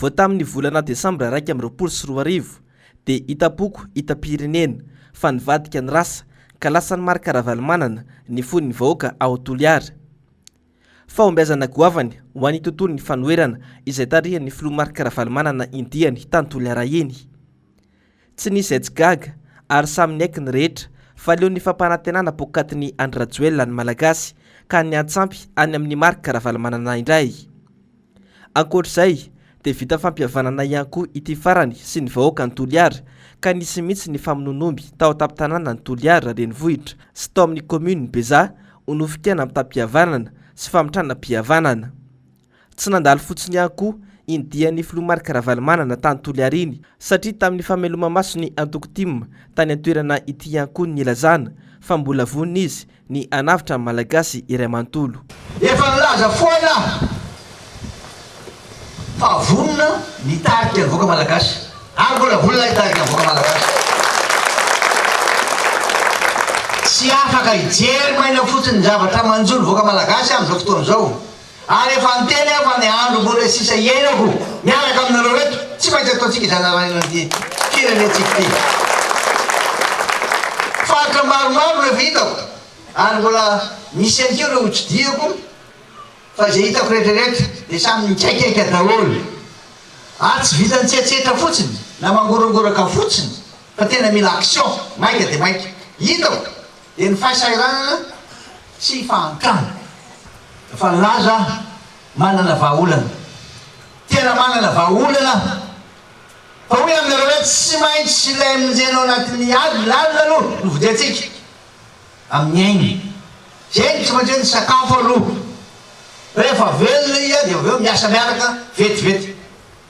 Vao tamin'ny volana desambra iraika amby roapolo sy roa arivo dia hitam-poko hitam-pirenena fa nivadika ny rasa ka lasan'i Marc Ravalomanana ny fon'ny vahoaka ao Toliara. Fahombiazana goavany ho an'ny tontolon'ny fanoherana izay tarihan'ny filoha Marc Ravalomanana indiany tany Toliara iny. Tsy nisy izay tsy gaga ary samy niaiky ny rehetra fa leo ny fampanantenana poakatin'i Andry Rajoelina ny Malagasy ka niantsampy any amin'i Marc Ravalomanana indray. Ankoatr'izay dia vita fampihavanana ihany koa ity farany sy ny vahoakan'i Toliara ka nisy mihitsy ny famonoan'omby tao an-tampon-tanànan'i Toliara renivohitra sy tao amin'ny kaominin'i Bezaha ho nofikena am-tam-pihavanana sy famitranam-pihavanana. Tsy nandalo fotsiny ihany koa iny dian'ny filoha Marc Ravalomanana tany Toliary iny satria tamin'ny fameloma-maso ny antoko tim tany an-toerana ity ihany koa ny nilazana fa mbola vonona izy ny hanavotra ny Malagasy iray manontolo. Efa nilaza foana aho fa vonona ny hitarika ny vahoaka Malagasy ary mbola vonona hitarika ny vahoaka Malagasy. Tsy afaka hijery maina fotsiny ny zavatra manjo ny vahoaka Malagasy aho amin'izao fotoana izao. Ary efa niteny aho fa ny andro mbola sisa hiainako miaraka aminareo eto, tsy maintsy ataontsika izay narahinana ity firenentsika ity. Faritra maromaro no efa hitako, ary mbola misy ihany koa ireo hotsidihiko, fa izay hitako rehetra rehetra dia samy nikaikaika daholo. Ary tsy vitan'ny tsetsetra fotsiny na mangorangoraka fotsiny, fa tena mila action maika dia maika. Hitako. dia ny fahasahiranana sy fahantrana. Efa nilaza aho, manana vahaolana. Tena manana vahaolana aho. Fa hoy aminareo hoe tsy maintsy ilay monjeny ao anatin'ny ady lalina aloha no vidintsika, amin'ny ainy. Izay no tsy maintsy hoe ny sakafo aloha. Rehefa velona izy dia avy eo miasa miaraka vetivety.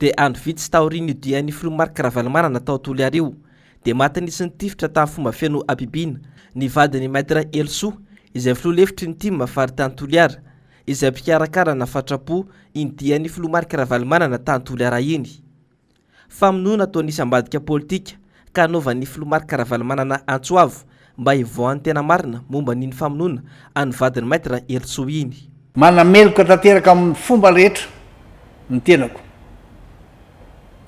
Dia andro vitsy taorian'io dian'ny filoha Marc Ravalomanana tao Toliara io dia maty nisy nitifitra tamin'ny fomba feno habibiana ny vadin'i Maître Helosoa izay filoha lefitry ny tim faritany Toliara izay mpikarakara na fatrapo iny dian'ny filoha Marc Ravalomanana tany Toliara iny. Famonoana toa nisy ambadika politika ka anaovan'ny filoha Marc Ravalomanana antso avo mba hivoahan'ny tena marina momba an'iny famonoana an'ny vadin'i Maître Herisoa iny. Manameloka tanteraka amin'ny fomba rehetra ny tenako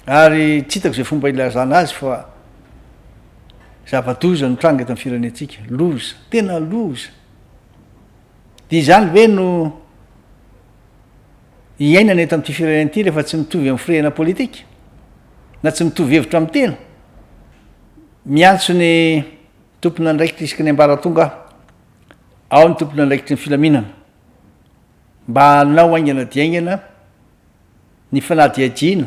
ary tsy hitako izay fomba hilazana azy fa zava-doza no tranga eto amin'ny firenentsika, loza, tena loza, dia izany ve no. iainana eto amin'ity firenena ity rehefa tsy mitovy amin'ny firehana politika, na tsy mitovy hevitra amin'ny tena. Miantso ny tompon'andraikitra isaky ny ambaratonga aho, ao ny tompon'andraikitry ny filaminana, mba hanao haingana dia haingana ny fanadihadiana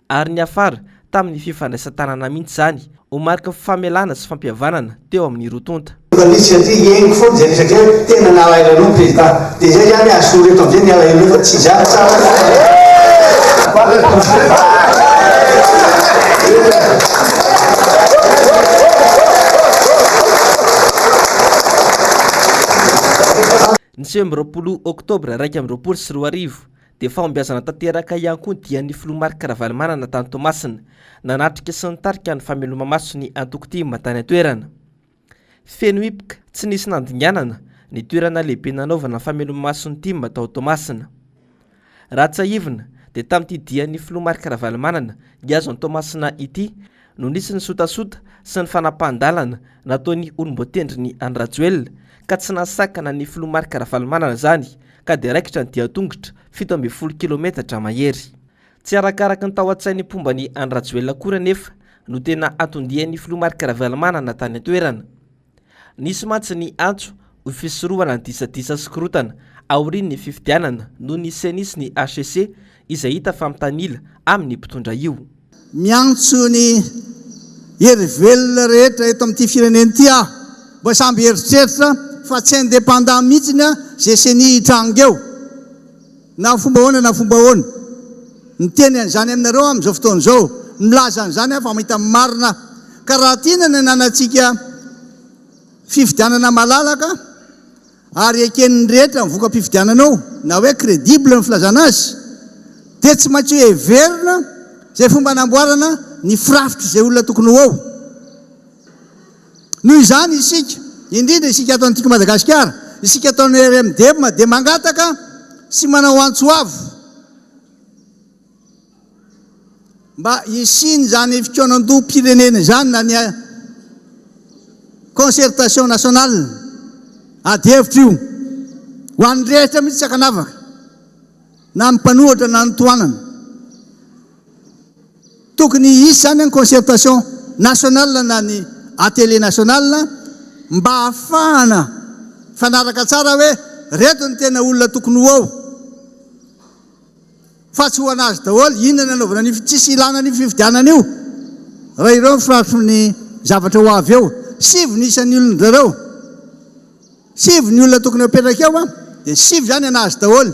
Ary niafara tamin'ny fifandraisan-tanana mihitsy izany ho mariky famelana sy fampihavanana teo amin'ny roa tonta. Journaliste satria hihaino foana izay resaka izay hoe tena nalaelo anao ny président dia izay izany asolo eto amin'izay ny alahelonao fa tsy izany sa? Ny sivy amby roapolo oktobra iraika amby roapolo sy roa arivo Dia fahombiazana tanteraka ihany koa ny dian'ny Filoha Marc Ravalomanana tany Toamasina, nanatrika sy nitarika ny fameloma-maso ny antoko tim tany an-toerana. Feno hipoka, tsy nisy nandinganana, ny toerana lehibe nanaovana ny fameloma-maso ny tim tao Toamasina. Raha tsiahivina, dia tamin'ity dian'ny Filoha Marc Ravalomanana, nihazo an'i Toamasina ity, no nisy ny sotasota sy ny fanapahan-dalana nataon'ny olom-boatendrin'i Andry-Rajoelina ka tsy nahasakana ny filoha Marc Ravalomanana izany ka dia raikitra ny dian-tongotra fito ambin'ny folo kilometatra mahery. Tsy arakaraky ny tao an-tsain'ny mpomba an'i Andry-Rajoelina akory anefa no tena hatondian'ny filoha Marc Ravalomanana tany an-toerana. Nisy mantsy ny antso ho fisorohana ny disadisa sy korotana aorian'ny fifidianana noho ny Ceni sy ny hcc izay hita fa mitanila amin'ny mpitondra io. Miantso ny hery velona rehetra eto amin'ity firenena ity aho mba samby hieritreritra fa tsy indépendant mihitsy ny GCni hitranga eo. Na fomba ahoana na fomba ahoana, miteny an'izany aminareo aho amin'izao fotoana izao, milaza an'izany aho fa mahita ny marina aho. Ka raha tiana ny hananantsika fifidianana malalaka ary eken'ny rehetra ny voka-pifidianana ao, na hoe credible ny filazana azy, dia tsy maintsy hoheverina izay fomba hanamboarana ny firafitr'izay olona tokony ho ao. Noho izany isika, indrindra isika ato Antiky Madagasikara, isika ato amin'ny RMDM dia mangataka sy manao antso avo mba hisian'izany fikaonandoham-pirenena izany na ny concertation nationale ady hevitra io ho an'ny rehetra mihitsy sakanavaka na ny mpanohatra na ny tohanana. Tokony hisy izany ny concertation nationale na ny atelier national mba hahafahana mifanaraka tsara hoe reto ny tena olona tokony ho ao fa tsy ho anazy daholo inona ny anaovana an'io, tsisy ilana an'io fifidianana io raha ireo ny firafitry ny zavatra ho avy eo. Sivy ny isan'ny olon-drareo, sivy ny olona tokony hapetraka eo dia sivy izany anazy daholo.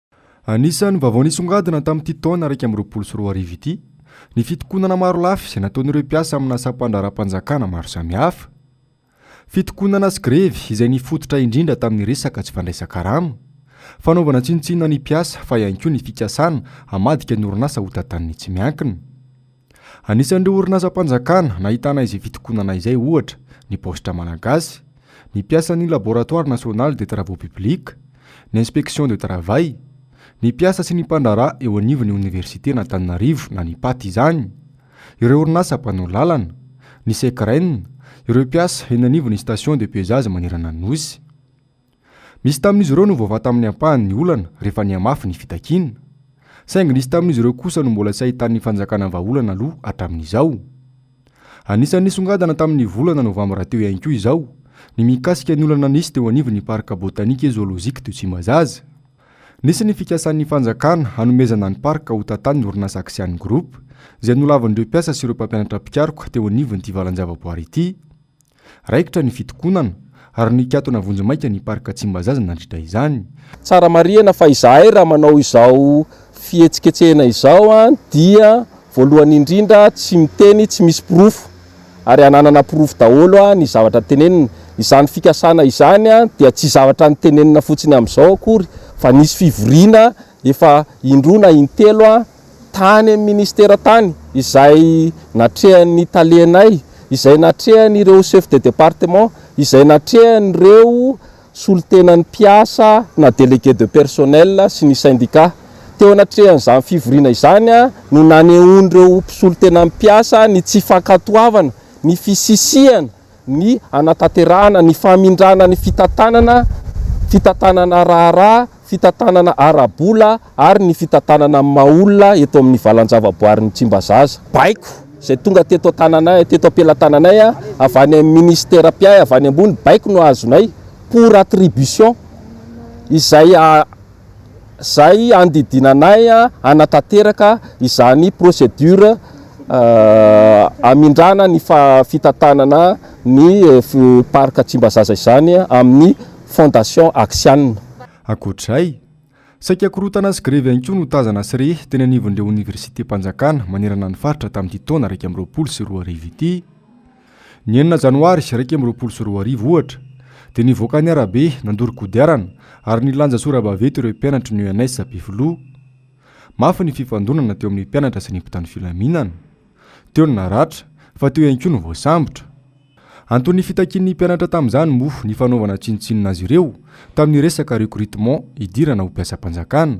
Anisan'ny vaovao nisongadina tamin'ity taona iraika amby roapolo sy roa arivo ity ny fitokonana marolafy izay nataon'ireo mpiasa amina sampandraharapanjakana maro samihafa. Fitokonana sy grevy izay nifototra indrindra tamin'ny resaka tsy fandraisan-karama, fanaovana tsinontsinona ny mpiasa fa ihany koa ny fikasana hamadika ny orinasa ho tantanin'ny tsy miankina. Anisan'ireo orinasam-panjakana nahitana izay fitokonana izay, ohatra, ny Paositra Malagasy, ny mpiasan'ny Laboratoire National des Travaux Publics, ny Inspection de Travail, ny mpiasa sy ny mpandraharaha eo anivon'ny Oniversiten'Antananarivo na ny Pat izany, ireo orinasa mpanao lalana, ny Secren, ireo mpiasa eny anivon'ny Station de Pesage manerana ny Nosy. Misy tamin'izy ireo no voavaha tamin'ny ampahany ny olana rehefa nihamafy ny fitakiana, saingy nisy tamin'izy ireo kosa no mbola tsy ahitan'ny fanjakana vahaolana aloha hatramin'izao. Anisan'ny nisongadina tamin'ny volana novambra teo ihany koa izao ny mikasika ny olana nisy teo anivon'ny Parc botanique et zoologique de Tsimbazaza. Nisy ny fikasan'ny fanjakana hanomezana ny parc ho tantanin'ny orinasa Axian Group, izay nolavin'ireo mpiasa sy ireo mpampianatra mpikaroka teo anivon'ity valan-javaboary ity. Raikitra ny fitokonana ary nikatona vonjimaika ny Parc Tsimbazaza nandritra izany. Tsara marihina fa izahay raha manao izao fihetsiketsehina izao dia voalohany indrindra tsy miteny tsy misy porofo ary hananana porofo daholo ny zavatra tenenina. Izany fikasana izany dia tsy zavatra nitenenina fotsiny amin'izao akory fa nisy fivoriana efa indroa na intelo tany amin'ny ministera tany izay natrehan'ny talenay, izay natrehan'ireo chef de département, izay natrehan'ireo solontenan'ny mpiasa na délégué de personnel sy ny syndicat. Teo anatrehan'izany fivoriana izany no nanehoan'ireo mpisolontenan'ny mpiasa ny tsy fankatoavana ny fisisihana ny hanatanterahana ny famindrana ny fitantanana, fitantanana raharaha, fitantanana ara-bola ary ny fitantanana amin'ny maha olona eto amin'ny valan-javaboarin'i Tsimbazaza. Baiko izay tonga teto an-tananay, teto am-pelatananay, avy any amin'ny Minisitera mpiahy avy any ambony, baiko no azonay, pour attribution, izay izay handidiana anay hanatanteraka izany procédure hamindrana ny fitantanana ny Parc Tsimbazaza izany amin'ny Fondation Axian. Ankoatra izay, saika korontana sy grevy ihany koa no tazana sy re teny anivon'ireo oniversitem-panjakana manerana ny faritra tamin'ity taona iraika amby roapolo sy roa arivo ity. Ny enina janoary iraika amby roapolo sy roa arivo, ohatra, dia nivoaka ny arabe nandoro kodiarana ary nilanja sora-baventy ireo mpianatry ny ENS Ampefiloha. Mafy ny fifandonana teo amin'ny mpianatra sy ny mpitandro filaminana. Teo ny naratra, fa teo ihany koa ny voasambotra. Anton'ny fitakian'ny mpianatra tamin'izany moa ny fanaovana tsinontsinona azy ireo Tamin'ny resaka recrutement, hidirana ho mpiasam-panjakana,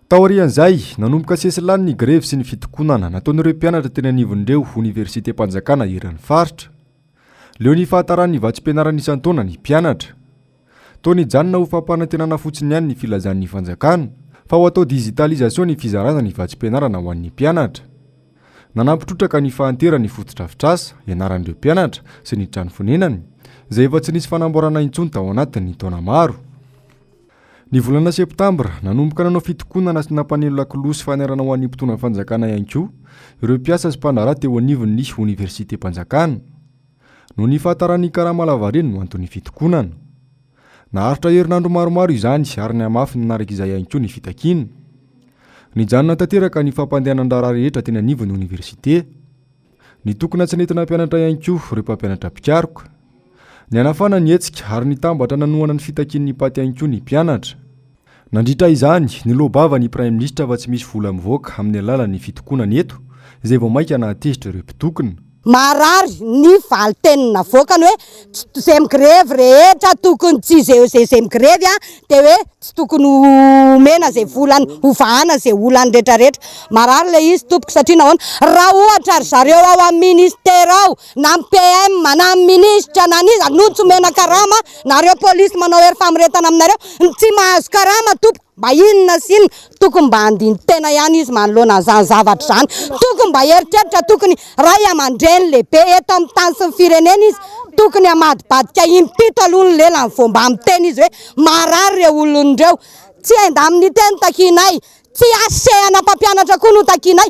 Taorian'izay, nanomboka sesilany ny grevy sy ny fitokonana nataon'ireo mpianatra teny anivon'ireo oniversitem-panjakana eran'ny faritra. Leo ny fahataran'ny vatsim-pianarana isan-taona ny mpianatra. Toa nijanona ho fampanantenana fotsiny ihany ny filazan'ny fanjakana fa ho atao digitalisation ny fizarana ny vatsim-pianarana ho an'ny mpianatra. Nanampy trotraka ny fahanteran' ny fotodrafitrasa ianaran'ireo mpianatra sy ny trano fonenany, izay efa tsy nisy fanamboarana intsony tao anatin'ny taona maro. Ny volana septambra, nanomboka nanao fitokonana sy nampaneno lakolosy fanairana ho an'ny mpitondra ny fanjakana ihany koa ireo mpiasa sy mpandraharaha teo anivon'ny oniversitem-panjakana. Noho ny fahataràn'ny karama lavareny no anton'ny fitokonana. Naharitra herinandro maromaro izany ary nihamafy nanaraka izay ihany koa ny fitakiana. Nijanona tanteraka ny fampandehanan-draharaha rehetra teny anivon'ny oniversite. Nitokona tsy nentina hampianatra ihany koa ireo mpampianatra mpikaroka. Nihanafana ny hetsika ary nitambatra nanohana ny fitakian'ny paty ihany koa ny mpianatra. Nandritra izany, niloa-bava ny Praiminisitra fa tsy misy vola mivoaka amin'ny alalan'ny fitokonana eto, izay vao mainka nahatezitra ireo mpitokona. Maharary ny valin-teny navoakany hoe Izay migrevy rehetra tokony tsy izay izay migrevy a dia hoe tsy tokony homena izay volany hovahana izay olany rehetra rehetra marary ilay izy tompoko satria nahoana raha ohatra ry zareo ao amin'ny ministera ao na ny PM na ny minisitra na ny iza no tsy omena karama nareo polisy manao hery famoretana aminareo ny tsy mahazo karama tompoko Mba inona sy inona tokony mba handini-tena ihany izy manoloana an'izany zavatra izany. Tokony mba hieritreritra, tokony ray aman-dreny lehibe eto amin'ny tany sy ny firenena izy. Tokony hamadibadika impito aloha ny lelany vao mba miteny izy hoe marary ireo olona ireo. Tsy endamin'ny teny no takianay, tsy hasehana mpampianatra koa no takianay.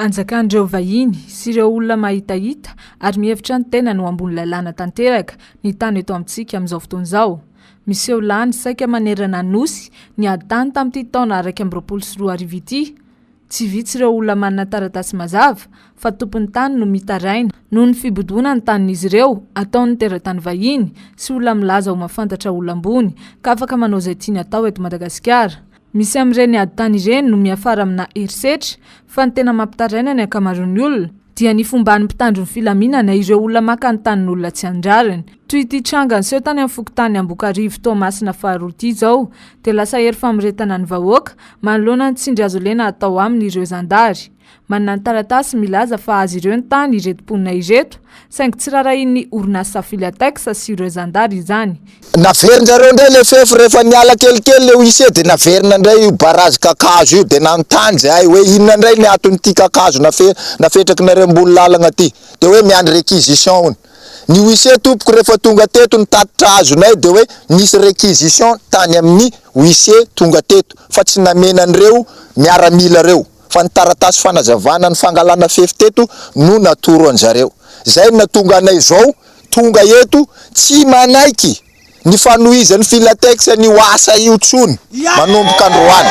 Anjakan'ireo vahiny sy ireo olona mahitahita ary mihevitra ny tenany ho ambony lalàna tanteraka ny tany eto amintsika amin'izao fotoana izao. Miseho lany saika manerana ny Nosy ny ady tany tamin'ity taona iraika amby roapolo sy roa arivo ity. Tsy vitsy ireo olona manana taratasy mazava fa tompon'ny tany no mitaraina noho ny fibodoana ny tanin'izy ireo ataon'ny teratany vahiny sy olona milaza ho mahafantatra olona ambony ka afaka manao izay tiany atao eto Madagasikara. Misy amin'ireny ady tany ireny no miafara amina herisetra fa ny tena mampitaraina ny ankamaroan'ny olona dia ny fomban'ny mpitandro ny filaminana ireo olona maka ny tanin'olona tsy an-drariny. Toy ity tranga niseho tany amin'ny fokontany Ambokarivo Toamasina faharoa ity izao dia lasa hery famoretana ny vahoaka manoloana ny tsindry hazolena atao aminy ireo zandary. Manana ny taratasy milaza fa azy ireo ny tany ireto mponina ireto, saingy tsy rarahian'ny orinasa Filatex sy ireo zandary izany. Naverinjareo indray ilay fefy rehefa niala kelikely ilay huissier dia naverina indray io barazy kakazo io dia nanontany izahay hoe inona indray ny aton'ity kakazo nafetrakinareo ambony lalagna ity dia hoe miandry requisition hono ny huissier tompoko rehefa tonga teto nitatitra azonay dia hoe nisy requisition tany amin'ny huissier tonga teto fa tsy namena an'ireo miaramila ireo fa ny taratasy fanazavana ny fangalana fefy teto no natoro an zareo. Zay no natonga anay izao tonga eto tsy manaiky ny fanohizan'ny Filatex an'io asa io tsony manomboka androany.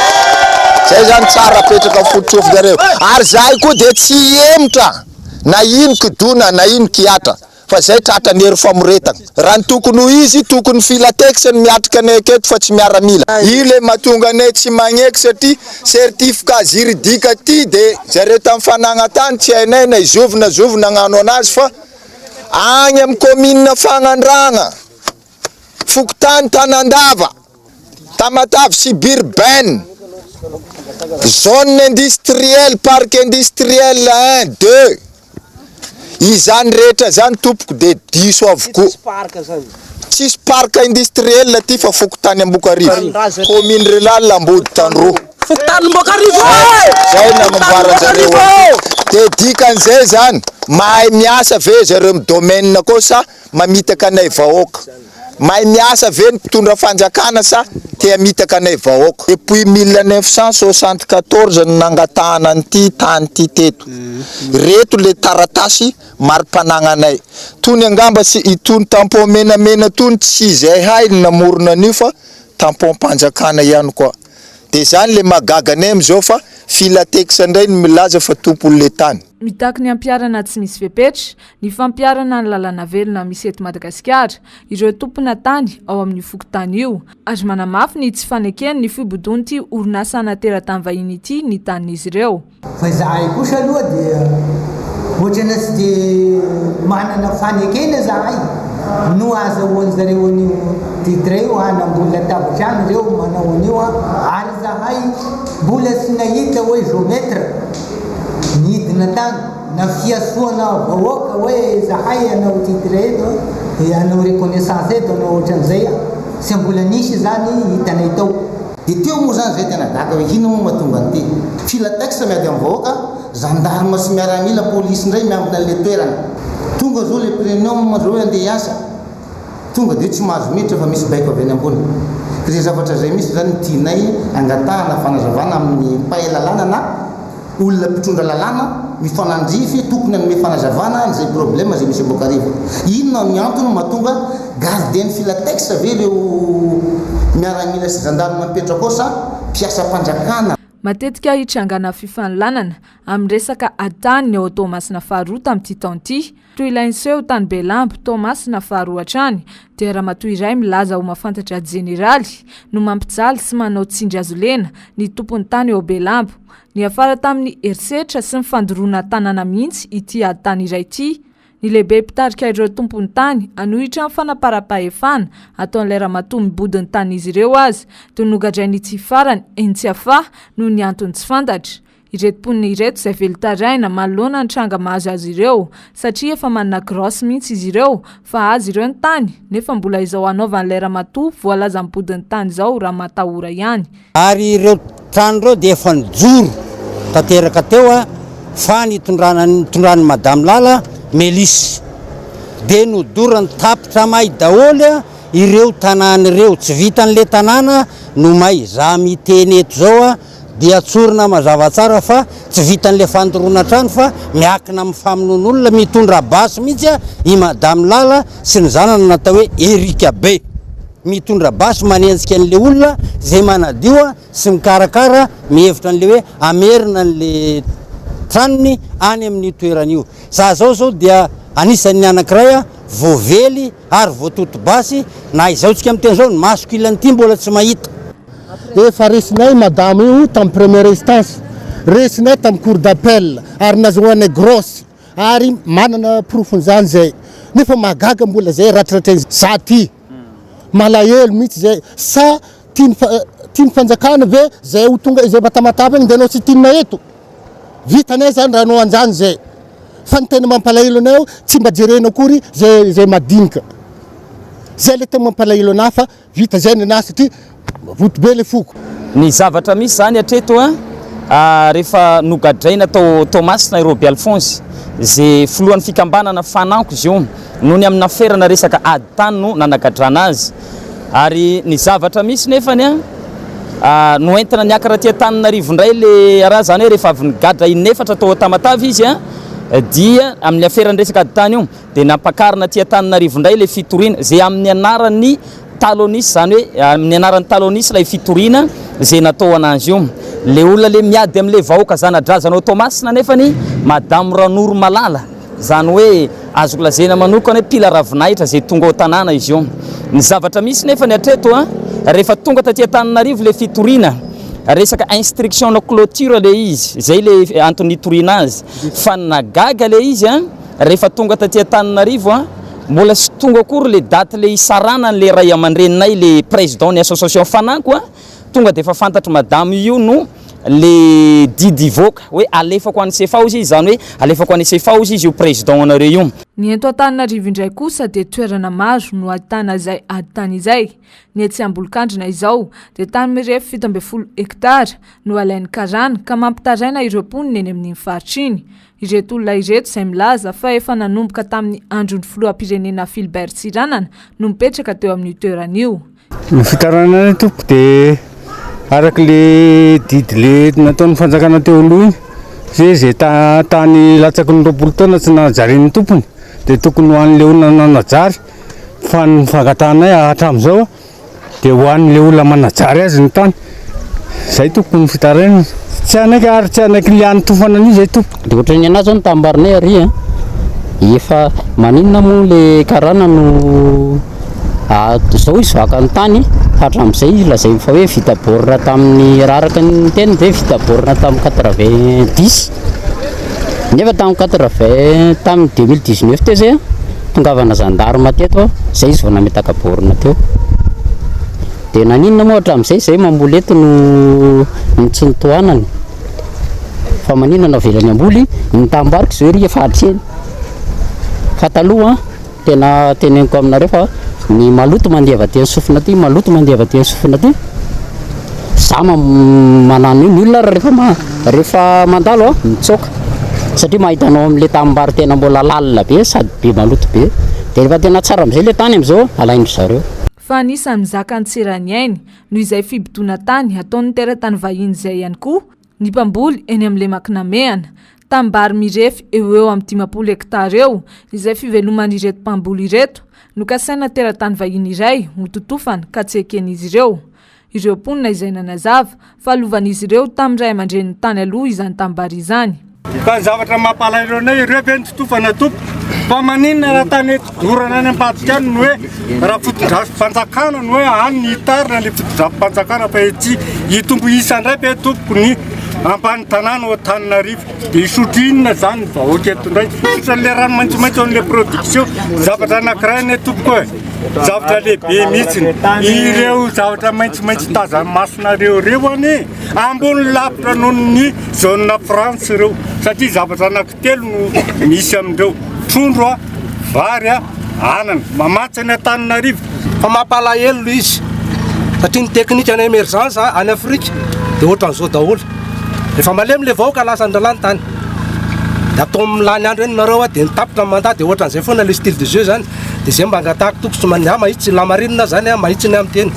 Zay zany tsara apetraka ny foto-tsofinareo. Ary zahay koa dia tsy hihemotra na ino kidona na ino kihatra. fa zay tratra ny hery famoretagna raha ny tokony ho izy tokony filatex ny miatrika anay aketo fa tsy miaramila. Io le matonga anay tsy magneky satria certificat juridique ty de zareo tam fanagna tany tsy hainay na izovy na zovy nagnano anazy fa agny am commune fagnandragna fokontany tanandava tamatave suburbain zone industriel parc industriel un deux Izany rehetra izany tompoko dia diso avokoa. Tsisy parc industriel aty fa fokontany Ambokarivo, commune rurale Amboditandroa. Fokontany Ambokarivo ê! Zay no namboaranjareo aty. Dia dikan'izay izany mahay miasa ve zareo amin'ny domaine koa sa mamitaka anay vahoaka. Mahay miasa ve ny mpitondra fanjakana sa te hamitaka anay vahoaka. Depuis mille neuf cent soixante quatorze no nangatahana an'ity tany ity teto. Ireto le taratasy mari-panagnanay. Tony angamba tsy itony tampon menamena tony tsy izay hay no namorona an'io fa tampom-panjakana ihany koa. De zany le mahagaga anay am'izao fa filatex ndray no milaza fa tompon'le tany. Mitaky ny ampiharana tsy misy fepetra, ny fampiharana ny lalàna velona misy eto Madagasikara, ireo tompona tany ao amin'io fokontany io, ary manamafy ny tsy fanekeny ny fibodoan'ity orinasa ana teratany vahiny ity ny tanin'izy ireo. Fa izahay kosa aloha dia ohatrana tsy dia manana fanekena zahay no azahoan'ny zareo an'io titre io an, mbola tavitrano ireo manao an'io an, ary zahay mbola tsy nahita hoe geomètre nidina tany. Na fiantsoana vahoaka hoe zahay hanao titre eto dia hanao reconnaissance eto hanao ohatran'izay a! Tsy mbola nisy izany hitanay tao. Dia teo moa izany izay tena gaga hoe inona moa mahatonga an'ity? Filatex miady amin'ny vahoaka, zandarma sy miaramila, polisy indray miambina an'ilay toerana. Tonga izao ilay prenium izao hoe handeha hiasa, tonga dia hoe tsy mahazo miditra fa misy baiko avy any ambony. Ireny zavatra izay mihitsy izany no tianay angatahana fanazavana amin'ny mpahay lalàna na. Olona mpitondra lalàna mifanandrify tokony hanome fanazavana an'izay problème izay misy ao Boakarivo. Inona ny antony mahatonga gardien filatex ve ireo miaramila sy gendarme mipetraka ao sa mpiasam-panjakana? Matetika hitrangana fifaninlanana amin'ny resaka atan'ny ao Toamasina faharoa tamin'ity taona ity Toy ilay niseho tany Belambo, Toamasina faharoa hatrany, dia ramatoa iray milaza ho mahafantatra jeneraly no mampijaly sy manao tsindrihazolena ny tompon'ny tany ao Belambo. Niafara tamin'ny herisetra sy ny fandoroana tanàna mihitsy ity ady tany iray ity. Ny lehibe mpitarika ireo tompon'ny tany hanohitra ny fanaparam-pahefana ataon'ilay ramatoa mibody ny tanin'izy ireo aza dia nogadrain'ity farany eny Tsiafahy noho ny antony tsy fantatra. ireto mponina ireto izay velon-tarehina manoloana ny tranga mahazo azy ireo satria efa manana graosy mihitsy izy ireo fa azy ireo ny tany nefa mbola izao hanaovan'ilay ramatoa voalaza mibodin'ny tany izao raha matahora ihany. Ary ireo trano ireo dia efa nijoro tanteraka teo a fa nitondrana nitondran'i Madame Lala Melis dia nodorany tapitra may daholo a ireo tanàna ireo, tsy vitan'ilay tanàna no may, za miteny eto izao a. dia tsorina mazava tsara fa tsy vitan'ilay fandoroana trano fa miakina amin'ny famonoana olona mitondra basy mihitsy i madame lala sy ny zanany natao hoe Erica be mitondra basy manenjika an'ilay olona izay manadio sy mikarakara mihevitra an'ilay hoe hamerina an'ilay tranony any amin'io toerana io za zao zao dia anisan'ny anankiray voavely ary voatoto basy na izao tsika miteny izao ny masoko ilan'ity mbola tsy mahita Efa resinay madama io tam première instance, resinay tam cour d'appel ary nazahoanay grosse ary manana porofon'izany zay nefa mahagaga mbola zay ratriratrainy za ty malahelo mitsy zay sa tian'ny fanjakana ve zay ho tonga izay matamatama iny de anao tsy tinona eto vita anay zany raha anao anjany zay fa ny tena mampalahelo anay ao tsy mba jerena akory zay zay madinika zay le tena mampalahelo anah fa Vita zay nenah satria rotro be le foko. Ny zavatra misy zany hatreto an, rehefa nogadraina tao Toamasina i Roby Alphonse, ze filohan'ny fikambanana Fananko izy io, noho ny amina ferana resaka ady tany no nanagadrana azy. Ary ny zavatra misy nefany an, noentina niakatra aty Antananarivo indray le raharaha, zany hoe rehefa avy nigadra in'efatra tao Tamatave izy an, dia amin'ny aferan'ny resaka ady tany io, dia nampakarina aty Antananarivo indray ilay fitoriana, izay amin'ny anaran'ny Talonis, izany hoe amin'ny anaran'ny Talonis ilay fitoriana izay natao an'azy io. Ilay olona ilay miady amin'ilay vahoaka zana-drazanao Toamasina anefany Madame Ranoromalala, izany hoe azoko lazaina manokana hoe mpila ravinahitra izay tonga ao tanàna izy io. Ny zavatra misy nefany hatreto, rehefa tonga taty Antananarivo ilay fitoriana, resaka instruction-na clôture ilay izy, izay ilay antony nitoriana azy, fa ny nahagaga ilay izy, rehefa tonga taty Antananarivo a, mbola tsy tonga akory le date le hisarana anle ray amandreninay le president ny association fananko a, tonga de efa fantatry madame io no le didy hivoaka hoe alefako any cfa ozy izy zany hoe alefako any cfa ozy izy io president anareo io. Ny eto Antananarivo indray kosa dia toerana maro no ahitana izay ady tany izay, ny etsy Ambolokandrina izao dia tany mirefy fito ambin'ny folo hectare no alain'ny karana ka mampitaraina ireo mponina eny amin'iny faritra iny, Ireto olona ireto izay milaza fa efa nanomboka tamin'ny andron'ny filoham-pirenena Philbert Tsiranana no mipetraka teo amin'io toerana io. Ny fitarainana ny tompoko dia araka le didy le nataon'ny fanjakana teo aloha iny hoe izay tany latsaky ny roapolo taona tsy najarin'ny tompony dia tokony ho an'ilay olona nanajary fa ny fangatahanay hatramin'izao Dia ho an'ilay olona manajary azy ny tany. Izay tompoko ny fitarainana. Tsy anay ary tsy anay kiliany tofana an'io izay tompoko. Dia ohatran'ny ny anah izao ny tanim-barinay ary an! Efa maninona moa ilay karana no izao izy vaka ny tany fa hatramin'izay lazainy fa hoe vita borne tamin'ny raraka ny teny ve vita borne tamin'ny quatre vingt dix? Nefa tamin'ny quatre vingt tamin'ny deux mille dix neuf teo zay an, tongavana zandarma teto aho, zay izy vao nametaka borne teo, dia naninona moa hatramin'izay izay mamboly eto no no tsy notohanany, fa maninona no avelany hamboly ny tanimbary koa izao ery efa hatreny, fa taloha an. Tena teneniko aminareo fa ny maloto mandeha avy aty amin'ny sofina aty, maloto mandeha avy aty amin'ny sofina aty. Za manano io, ny olona ary rehefa ma, rehefa mandalo a, mitsoaka satria mahita anao amin'ilay tanimbary tena mbola lalina be sady be maloto be. Dia rehefa tena tsara amin'izay ilay tany amin'izao a, alain-dry zareo. Fa anisan'ny mizaka antsirany ainy noho izay fibodoana tany ataon'ny teratany vahiny izay ihany koa, Ny mpamboly eny amin'ny lemak'i Namehana, tanimbary mirefy eo ho eo amin'ny dimampolo hektara eo, izay fiveloman'ireto mpamboly ireto, nokasaina teratany vahiny iray hototofana ka tsy eken'izy ireo. Ireo mponina izay nanazava fa lovan'izy ireo tamin'ny ray aman-dreniny tany aloha izany tanimbary izany. Fa ny zavatra mampalahelo anay, ireo ve no totofana tompoko? Fa maninona raha tany Dorana any ambadika any ny hoe raha fotodrafipanjakana ny hoe any ny hitarina ny fotodrafipanjakana fa ety hitombo isa indray ve tompoko ny ambany tanàna ao Antananarivo dia hisotro inona izany ny vahoaka eto indray sotran'ilay rano maitsomaitso an'ilay production zavatra anankiray anie tompoko e zavatra lehibe mihitsiny ireo zavatra maitsomaitso hitazan'ny masonareo ireo anie ambony lavitra noho ny zona France ireo satria zavatra anankiray Telo no misy amin'ireo, trondro, vary, anana. Mamatsy an'i Antananarivo. Fa mampalahelo ilay izy satria ny teknika ny emergence any Afrika dia ohatran'izao daholo. Rehefa malemy ilay vahoaka lasa an-drahalahy ny tany. Dia atao amin'ny lany andro eny nareo dia ny tapitra ny mandat dia ohatran'izay foana ilay style de jeu izany. Dia izay mba angatahako toko tsy maninona mahitsy lamarina izany mahitsy ny amin'ny teny.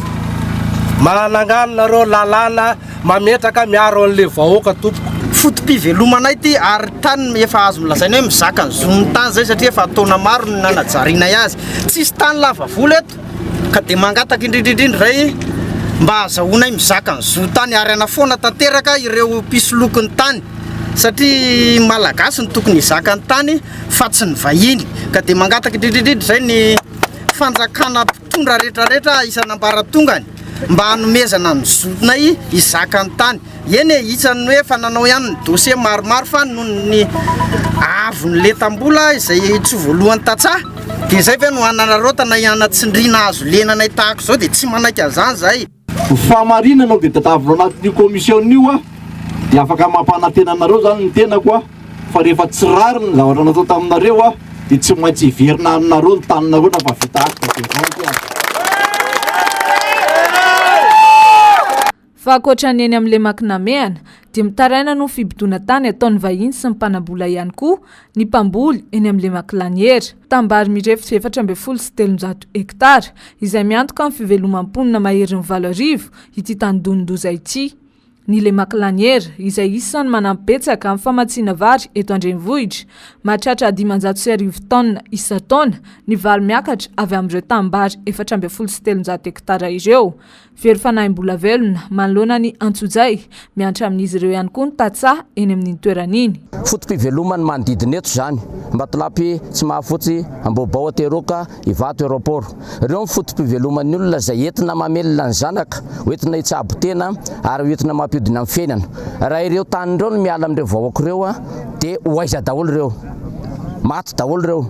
Manangano nareo lalàna Mametraka miaro anle vahoaka tompoko. Fotopivelomana ity ary tany efa azo lazaina hoe mizaka ny zon'ny tany zay satria efa taona maro no nanajarianay azy. Tsisy tany lava volo eto ka dia mangataka indrindra indrindra ray mba azahoanay mizaka ny zo tany ary anafoana tanteraka ireo mpisoloky ny tany satria malagasy no tokony hizaka ny tany fa tsy ny vahiny ka dia mangataka indrindra indrindra zay ny fanjakana Mpitondra rehetra rehetra isan'ambaratongany mba hanomezana ny zonay hizaka ny tany. Eny e, isan'ny hoe efa nanao ihany ny dossier maromaro fa noho ny avon'ny lentam-bola izay tsy ho voalohan'ny tantsaha dia izay ve no hanararaotana hanatsindriana hazo lenanay tahaka izao dia tsy manaiky an'izany izahay. Ny fahamarinana aloha dia tadavina ao anatin'io commission io aho dia afaka mampanantena anareo izany ny tenako aho fa rehefa tsy rariny ny zavatra natao taminareo aho dia tsy maintsy hiverina aminareo ny taninareo na fa vita acte de vente aza. Fa ankoatra ny eny amin'ny lemak'i Namehana dia mitaraina noho ny fibodoana tany ataon'ny vahiny sy ny mpanambola ihany koa ny mpamboly eny amin'ny lemak'i Laniera. Tambary mirefy efatra ambin'ny folo sy telonjato hektara, izay miantoka ny fivelomam-ponina maherin'ny valo arivo, ity tanidonin-doza ity. Ny Lemak'Laniera, izay isan'ny manampy betsaka amin'ny famatsiana vary eto an-drenivohitra, mahatratra dimanjato sy arivo taonina isan-taona ny vary miakatra avy amin'ireo tambary efatra ambin'ny folo sy telonjato hektara ireo. Very fanahim-bola velona manoloana ny antsojay. Miantra amin'izy ireo ihany koa ny tantsaha eny amin'iny toerana iny. Foto-piveloman'ny manodidina eto izany. Ambatolampy, Tsimahafotsy, Ambohibao, Ateroka, Ivato, Aeroport. Ireo ny foto-piveloman'ny olona izay entina mamelona ny zanaka, ho entina hitsabo tena ary ho entina mampiodina ny fiainana. Raha ireo tany ireo no miala amin'ireo vahoaka ireo dia ho aiza daholo ireo? Maty daholo ireo.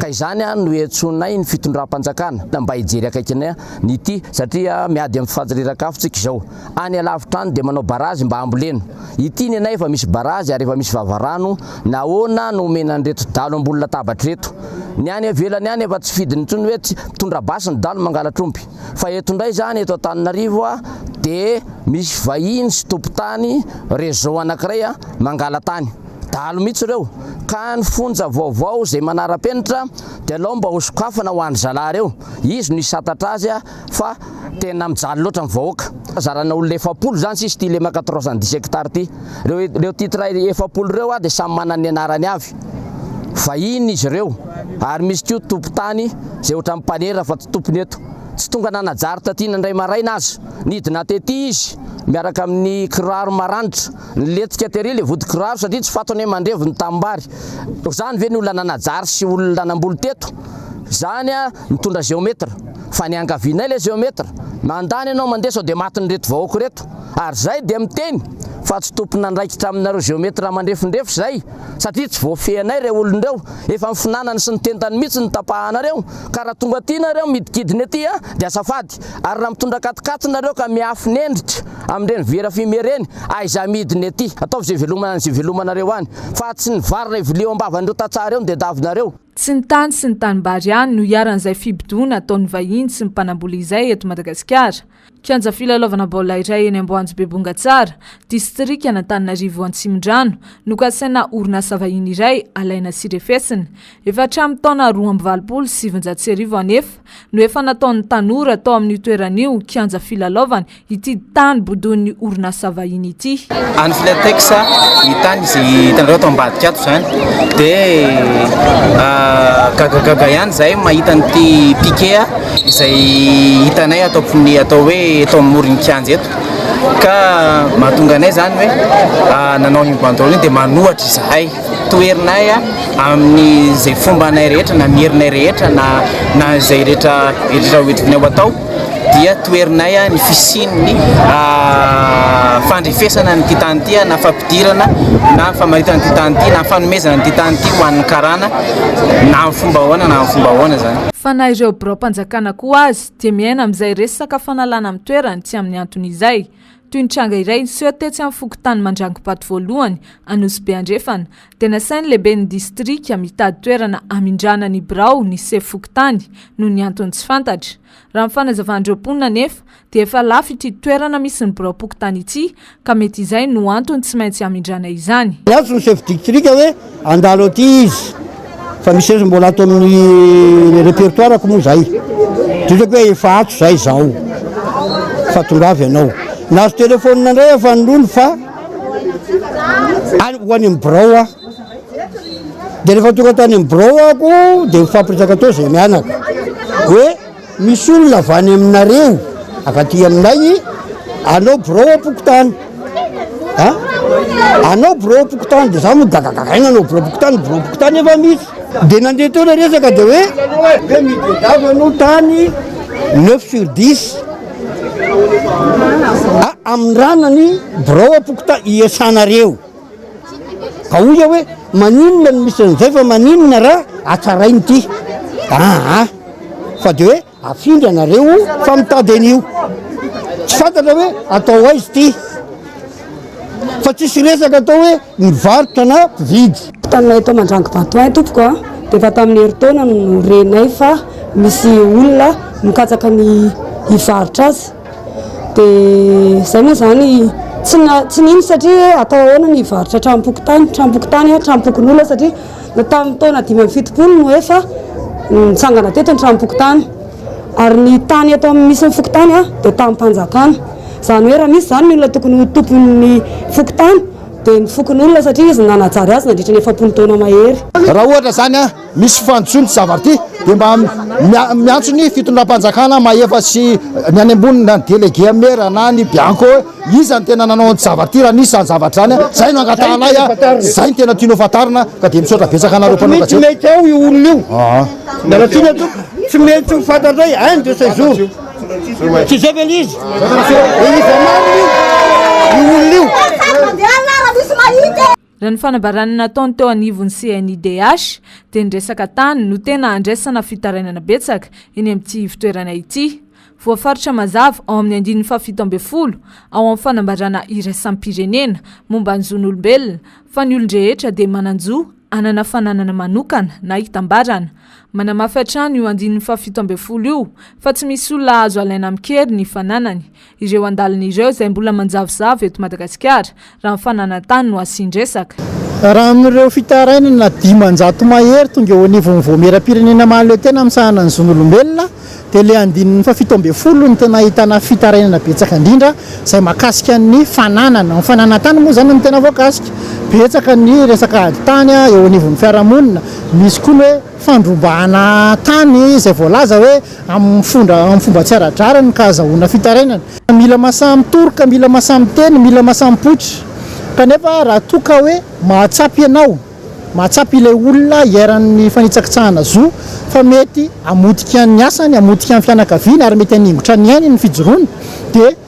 Ka izany no iantsonay ny fitondram-panjakana mba hijery akaikinay ny ty satria miady am fifanj rirakafo tsika izao any alavitra any dia manao barazy mba hambolena ity ny anay efa misy barazy ary efa misy vavarano nahoana no omena an'ireto dalo ambony latabatra ireto ny any avelany any efa tsy fidiny intsony hoe tsy mitondra basy ny dalo mangalatra omby fa eto indray zany eto Antananarivo a dia misy vahiny sy tompon-tany réseau anakiray a mangala-tany dahalo mihitsy ireo ka ny fonja vaovao izay manara-penitra dia alao mba ho sokafana ho an'ny zalahy ireo, izy no hisantatra azy fa tena mijaly loatra ny vahoaka. Fizarana olona efapolo izany sisa ity lemaka trois cent dix hectares ity. Ireo titres efapolo ireo dia samy manana ny anarany avy, vahiny izy ireo ary misy koa tompon-tany izay ohatran'ny mpanera fa tsy tompony eto. Tsy tonga nanajary taty indray maraina aza, nidina tety izy miaraka amin'ny kiraro maranitra. Nilentika tery ilay vodin-kiraro satria tsy fantany hoe mandrevo ny tanimbary. Izany ve ny olona nanajary sy olona nanamboly teto? Izany mitondra géomètre. Fa ny iangavianay ilay géomètre. Mandany ianao mandeha sao dia matin'ireto vahoaka ireto. Ary izay dia miteny fa tsy tompon'andraikitra aminareo géomètre mandrefindrefy izay satria tsy voafehinay ireo olona ireo. Efa ny finanany sy ny tentany mihitsy no tapahanareo ka raha tonga aty nareo midikidina ety dia azafady. mivadika ary raha mitondra katikaty nareo ka miafina endrika amin'ireny vera fumée ireny aiza amidiny ety? ataovy izay velomana an'izay velomanareo any fa tsy ny vary iray vilia eo am-bavan'ireo tantsaha ireo no tediavinareo. Tsy ny tany sy ny tanimbary ihany no iharan'izay fibodoana ataon'ny vahiny sy ny mpanambola izay eto Madagasikara. Kianja filalaovana baolina iray eny Amboanjo Bebongatsara, distrikan'Antananarivo Antsimondrano no kasaina orinasa vahiny iray alaina sy refesina. Efa hatramin'ny taona roa amby valopolo sy sivinjato sy arivo anefa, no efa nataon'ny tanora tao amin'io toerana io kianja filalaovana ity tany bodoin'ny orinasa vahiny ity. Any Filatex ny tany izay hitanareo ato ambadika ato izany dia gagagaga ihany izay mahita an'ity piquet izay hitanay ato amin'ny atao hoe eto amin'ny moron'ny kianja eto ka mahatonga anay izany hoe nanao io banderole io dia manohatra izahay. toherinay amin'izay fomba anay rehetra na merinay rehetra na na izay rehetra rehetra hoentinay ho atao dia toherinay ny fisian'ny fandrefesana an'ity tany ity na fampidirana na famaritana an'ity tany ity na fanomezana an'ity tany ity ho an'ny karana na amin'ny fomba ahoana na amin'ny fomba ahoana izany. Fa na ireo biraom-panjakana koa aza dia miaina amin'izay resaka fanalana amin'ny toerany tsy amin'ny antony izay. Toy ny tranga iray niseho tetsy amin'ny fokontany Mandrangobato voalohany, Anosibe Andrefana, dia nasain'ny lehiben'ny distrika mitady toerana hamindrana ny birao ny sefo fokontany noho ny antony tsy fantatra. Raha ny fanazavan'ireo mponina anefa dia efa lafo ity toerana misy ny biraom-pokontany ity ka mety izay no antony tsy maintsy hamindrana izany. Niantso ny sefo distrika hoe Handalo aty izy fa misy resy mbola ato amin'ny repertoire-ko moa zay. Didrako hoe efa ato zay zaho fa tongava ianao. Nahazo telephone indray aho fa nony fa any ho any amin'ny birao aho. Dia rehefa tonga tany amin'ny birao aho ko dia nifampiresaka teo izay mianaka hoe. Misy olona avy any aminareo avy aty aminay i anao birao am-pokontany a! anao birao am-pokontany dia za moa gagagagaina anao birao am-pokontany birao am-pokontany efa misy dia nandeha teo ilay resaka dia hoe hoe midian-dava aloha tany neuf sur dix a! amindrana ny birao am-pokontany iesanareo. Ka hoy aho hoe maninona no misy an'izay fa maninona ra hatsaraina ity aa fa de hoe afindra ianareo fa mitady an'io tsy fantatra hoe atao aiza ity fa tsisy resaka atao hoe mivarotra na mpividy. Taminay eto Mandrango Batoin tompoko a, dia efa tamin'ny herintaona no renay fa misy olona mikatsaka ny hivarotra azy. dia zay moa zany tsy tsy nino satria atao ahoana ny hivarotra tranom-pokotany tranom-pokotany a tranom-pokonolona satria na tamin'ny taona dimy amby fitopolo no efa nitsangana teto ny tranom-pokotany ary ny tany eto amin'ny misy ny fokotany a dia tamim-panjakana izany hoe raha misy izany ny olona tokony ho tompon'ny fokotany dia ny fokonolona satria izy no nanajary azy nandritra ny efapolo taona mahery raha ohatra izany a misy fanjo ny zavatra ity dia mba miantso ny fitondram-panjakana mahefa sy ny any ambony na ny délégué maire na ny bianco hoe iza ny tena nanao ny zavatra ity raha nisy izany zavatra izany a izay no angatahanay a izay ny tena tianao fantarina ka dia misaotra betsaka anareo mpanao gazety. Tsy mety ao io olona io. Mianakina tompoko. Tsy mety ho fantatray un de ces jours. Tsy izay ve ilay izy? Dia iza marina io? Io olona io. Raha ny fanambarana nataony teo anivon'ny CNIDH dia ny resaka tany no tena andraisana fitarainana betsaka eny amin'ity ivotoerana ity. Voafaritra mazava ao amin'ny andininy fahafito ambin'ny folo ao amin'ny fanambarana iraisam-pirenena momba ny zon'olombelona fa ny olon-drehetra dia manan-jo hanana fananana manokana na hitambarana. Manamafy hatrany io andininy fahafito ambin'ny folo io fa tsy misy olona azo alaina amin-kery ny fananany ireo andaliny ireo izay mbola manjavozavo eto Madagasikara raha ny fananan-tany no asian-dresaka. Raha amin'ireo fitarainana dimanjato mahery tonga eo anivon'ny Vaomieram-pirenena mahaleo tena amin'ny sahanan' ny zon'olombelona dia ilay andininy fahafito ambin'ny folo no tena ahitana fitarainana betsaka indrindra izay mahakasika ny fananana. Ny fananan-tany moa izany no tena voakasika. Betsaka ny resaka ady tany eo anivon'ny fiarahamonina, misy koa ny hoe. fandrobana tany izay voalaza hoe amin'ny fomba tsy ara-drariny ka azahoana fitarainana. Mila masaha mitory ka mila masaha miteny, mila masaha mipoitra. Kanefa raha toa ka hoe mahatsapa ianao, mahatsapa ilay olona iharan'ny fanitsakitsahana zo fa mety hamotika ny asany, hamotika ny fianakaviany ary mety haningotra ny ainy ny fijoroany dia.